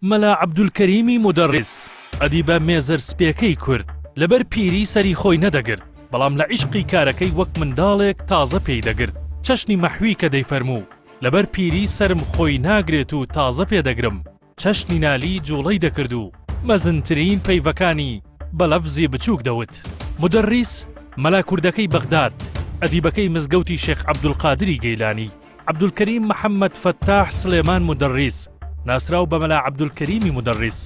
مەلا عەبدولکەریمی مودەڕیس، ئەدیبە مێزەر سپێکەی کورد، لەبەر پیری سەری خۆی نەدەگرت، بەڵام لە عیشقی کارەکەی وەک منداڵێک تازە پێی دەگرت، چەشنی مەحوی کە دەیفەرموو، لەبەر پیری سەرم خۆی ناگرێت و تازە پێ دەگرم، چەشنی نالی جووڵەی دەکرد و مەزنترین پەیڤەکانی بە لەفزی بچووک دەوت. مودەڕیس، مەلا کوردەکەی بەغداد، ئەدیبەکەی مزگەوتی شێخ عەبدولقادری گەیلانی. عەبدولکەریم محەمەد فەتاح سڵێمان مودەڕیس، ناسراو بە مەلا عەبدولکەریمی مودەڕیس،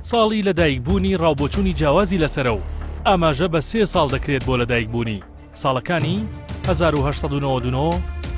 ساڵی لەدایکبوونی ڕاوبۆچوونی جیاوازی لەسەرە و ئاماژە بە سێ ساڵ دەکرێت بۆ لەدایکبوونی، ساڵەکانی، هەزار و هەشت سەد و نەوەد و نۆ،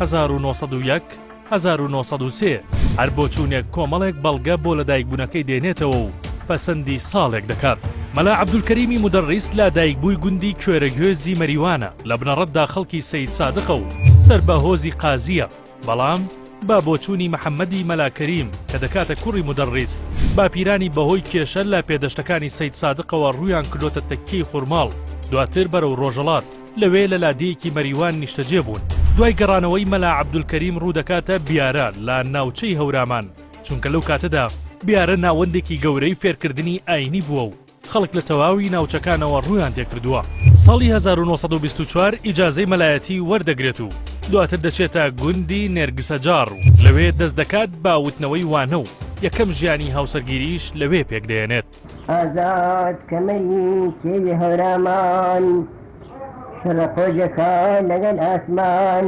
هەزار و نۆ سەد و یەک، هەزار و نۆ سەد و سێ. هەر بۆچوونێک کۆمەڵێک بەڵگە بۆ لەدایکبوونەکەی دێنێتەوە و پەسەندی ساڵێک دەکات. مەلا عەبدولکەریمی مودەڕیس لادایکبووی گوندی کوێرەگوێزی مەریوانە، لە بنەڕەتدا خەڵکی سەیدسادقە و سەر بە هۆزی قازییە، بەڵام بە بۆچوونی محەممەدی مەلا کەریم کە دەکاتە کوڕی مودەڕیس، باپیرانی بەهۆی کێشە لە پێدەشتەکانی سەیدسادقەوە ڕوویان کردۆتە تەکیەی خورماڵ، دواتر بەرەو ڕۆژەڵات، لەوێ لە لادێیەکی مەریوان نیشتەجێ بوون. دوای گەڕانەوەی مەلا عەبدولکەریم ڕوو دەکاتە بیارە لە ناوچەی هەورامان، چونکە لەو کاتەدا بیارە ناوەندێکی گەورەی فێرکردنی ئایینی بووە و خەڵک لە تەواوی ناوچەکانەوە ڕوویان تێکردووە. ساڵی هەزار و نۆ سەد و بیست و چوار ئیجازەی مەلایەتی وەردەگرێت و دواتر دەچێتە گوندی نێرگسەجاڕ و لەوێ دەست دەکات بە وتنەوەی وانە و یەکەم ژیانی هاوسەرگیرییش لەوێ پێکدەێنێت. ئازاد کەمەری کێوی هەورامان شەڕە قۆژەکە لەگەل ئاسمان.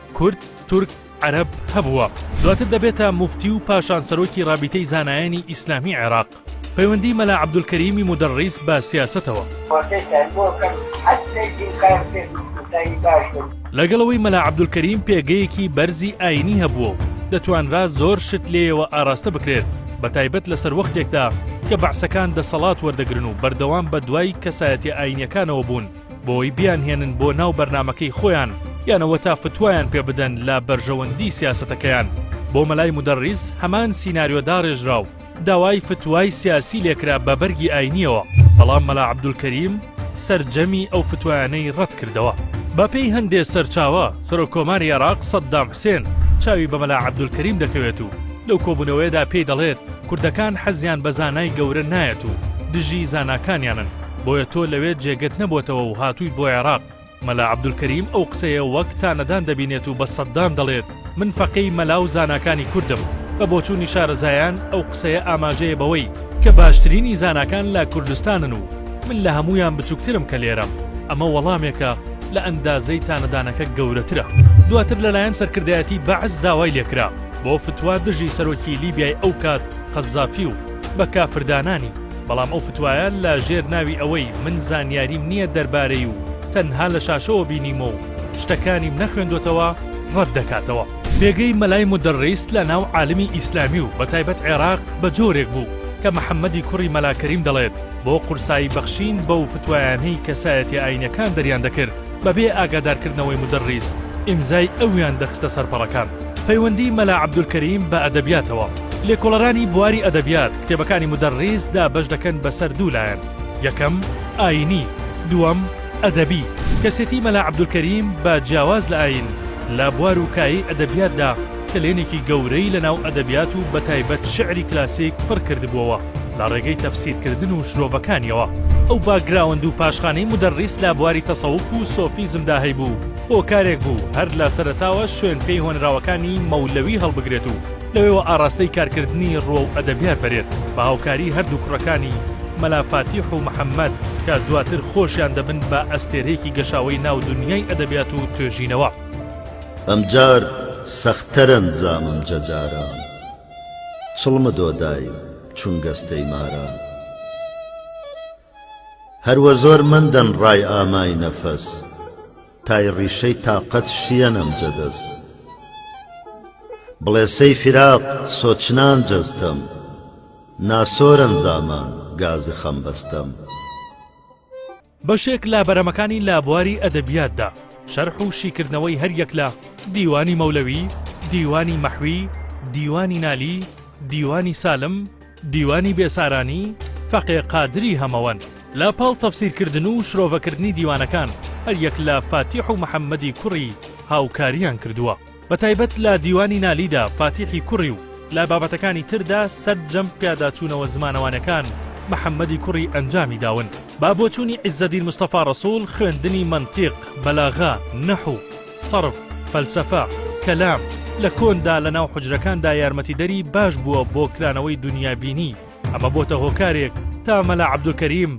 کورد، تورک، عەرەب، هەبووە. دواتر دەبێتە موفتی و پاشان سەرۆکی رابیتەی زانایانی ئیسلامی عێراق. پەیوەندی مەلا عەبدولکەریمی مودەڕیس بە سیاسەتەوە. لەگەڵ ئەوەی مەلا عەبدولکەریم پێگەیەکی بەرزی ئایینی هەبووە و دەتوانرا زۆر شت لێیەوە ئاراستە بکرێت، بەتایبەت لە سەروەختێکدا کە بەعسەکان دەسەڵات وەردەگرن و بەردەوام بەدوای کەسایەتیە ئایینیەکانەوە بوون، بۆی بیانهێنن بۆ ناو بەرنامەکەی خۆیان یان ئەوەتا فتوایان پێ بدەن لە بەرژەوەندی سیاسەتەکەیان بۆ مەلای مودەڕیس هەمان سیناریۆ داڕێژرا و داوای فتوای سیاسی لێکرا بە بەرگی ئاینیەوە بەڵام مەلا عەبدولکەریم سەرجەمی ئەو فتوایانەی ڕەت کردەوە بە پێی هەندێ سەرچاوە سەرۆک کۆماری عێراق سەددام حسێن چاوی بە مەلا عەبدولکەریم دەکەوێت و لەو کۆبوونەوەیەدا پێی دەڵێت کوردەکان حەزیان بە زانای گەورە نایەت و دژی زاناکانیانن بۆیە تۆ لەوێ جێگەت نەبۆتەوە و هاتوویت بۆ عێراق. مەلا عەبدولکەریم ئەو قسەیە وەک تانەدان دەبینێت و بە سەددام دەڵێت، من فەقێی مەلا و زاناکانی کوردم. بە بۆچوونی شارەزایان ئەو قسەیە ئاماژەیە بەوەی کە باشترینی زاناکان لە کوردستانن و من لە هەموویان بچووکترم کە لێرەم. ئەمە وەڵامێکە لە ئەندازەی تانەدانەکە گەورەترە. دواتر لەلایەن سەرکردایەتی بەعس داوای لێکرا بۆ فتوا دژی سەرۆکی لیبیای ئەو کات قەزافی و بە کافردانانی، بەڵام ئەو فتوایە لە ژێر ناوی ئەوەی من زانیاریم نییە دەربارەی و تەنها لە شاشەوە بینیمە و شتەکانیم نەخوێندۆتەوە ڕەت دەکاتەوە. پێگەی مەلای مودەڕیس لە ناو عالمی ئیسلامی و بە تایبەت عێراق بە جۆرێک بوو کە محەمەدی کوڕی مەلا کەریم دەڵێت بۆ قورسایی بەخشین بەو فتوایانەی کەسایەتیە ئاینیەکان دەریان دەکرد بە بێ ئاگادار کردنەوەی مودەڕیس ئیمزای ئەویان دەخستە سەر پەڕەکان. پەیوەندی مەلا عەبدولکەریم بە ئەدەبیاتەوە. لێکۆڵەرانی بواری ئەدەبیات، کتێبەکانی مودەڕیس دابەش دەکەن بەسەر دوو لایەن، یەکەم، ئایینی، دووەم، ئەدەبی. کەسێتی مەلا عەبدولکەریم بە جیاواز لە ئایین، لە بوار و کایەی ئەدەبیاتدا کەلێنێکی گەورەی لەناو ئەدەبیات و بەتایبەت شیعری کلاسیک پڕ کردبووەوە لە ڕێگەی تەفسیرکردن و شرۆڤەکانییەوە. ئەو باکگراوەند و پاشخانەی مودەڕیس لە بواری تەسەوف و سۆفیزمدا هەیبوو، هۆکارێک بوو هەر لە سەرەتاوە شوێن پێی هۆنراوەکانی مەولەوی هەڵبگرێت و لەوێوە ئاڕاستەی کارکردنی ڕووە و ئەدەبیار پەرێر بە هاوکاریی هەردوو کوڕەکانی، مەلا فاتیح و محەممەد، کە دواتر خۆشیان دەبن بە ئەستێرەیەکی گەشاوەی ناو دونیای ئەدەبیات و توێژینەوە. ئەمجار سەختتر ئەنجامم جە جاران چڵمدۆ دایم چون گەستەی ماران. هەر وە زۆر مەندەن ڕای ئامای نەفەس تای ڕیشەی تاقەت شیەن ئەم جەدەس بڵێسەی فیراق سۆچنان جەستەم ناسۆرەن زامان گازی خەم بەستەم. بەشێک لە بەرەمەکانی لە بواری ئەدەبیاتدا، شەرح و شیکردنەوەی هەر یەک لە، دیوانی مەولەوی، دیوانی مەحوی، دیوانی نالی، دیوانی سالم، دیوانی بێسارانی فەقێ قادری هەمەوەند. لە پاڵ تەفسیرکردن و شرۆڤەکردنی دیوانەکان، هەریەک لە فاتیح و محەممەدی کوڕی هاوکارییان کردووە. بە تایبەت لە دیوانی نالیدا فاتیحی کوڕی و لە بابەتەکانی تردا سەرجەم پیاداچوونەوە زمانەوانیەکان محەممەدی کوڕی ئەنجامی داون. بە بۆچوونی عیزەدین مستەفا ڕەسووڵ خوێندنی مەنتیق، بەلاغە، نەحو، سەرف، فەلسەفە، کەلام، لە کۆندا لە ناو حوجرەکاندا یارمەتیدەری باش بووە بۆ کرانەوەی دونیابینی، ئەمە بۆتە هۆکارێک تا مەلا عەبدولکەریم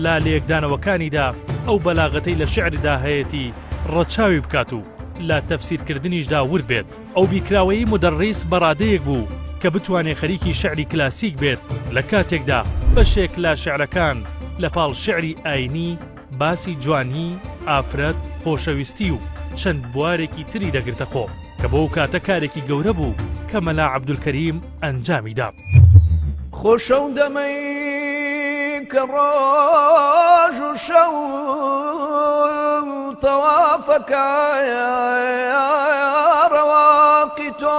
لە لێکدانەوەکانیدا ئەو بەلاغەتەی لە شیعردا هەیەتی ڕەچاوی بکات و لە تەفسیرکردنیشدا ورد بێت. ئەو بیرکراوەی مودەڕیس بەڕادەیەک بوو کە بتوانێ خەریکی شیعری کلاسیک بێت لە کاتێکدا بەشێک لە شیعرەکان لە پاڵ شیعری ئایینی، باسی جوانی، ئافرەت، خۆشەویستی و چەند بوارێکی تری دەگرتە خۆ کە بۆ ئەو کاتە کارێکی گەورە بوو کە مەلا عەبدولکەریم ئەنجامی دا. خۆش ئەو دەمەی کە ڕۆژ و شەو تەوافەکە ڕەواقی تۆ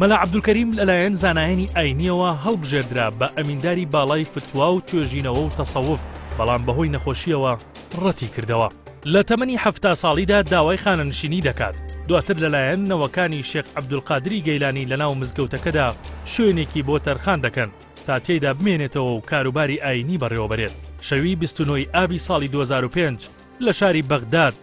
مەلا عەبدولکەریم لەلایەن زانایانی ئاینییەوە هەڵبژێردرا بە ئەمینداری باڵای فتوا و توێژینەوە و تەسەوف، بەڵام بەهۆی نەخۆشییەوە ڕەتی کردەوە. لە تەمەنی حەفتا ساڵیدا داوای خانەنشینی دەکات، دواتر لەلایەن نەوەکانی شێخ عەبدولقادری گەیلانی لەناو مزگەوتەکەدا شوێنێکی بۆ تەرخان دەکەن تا تێیدا بمێنێتەوە و کاروباری ئاینی بەڕێوەبەرێت. شەوی بیست و نۆ ی ئابی ساڵی دوە هەزار و پێنج لە شاری بەغداد،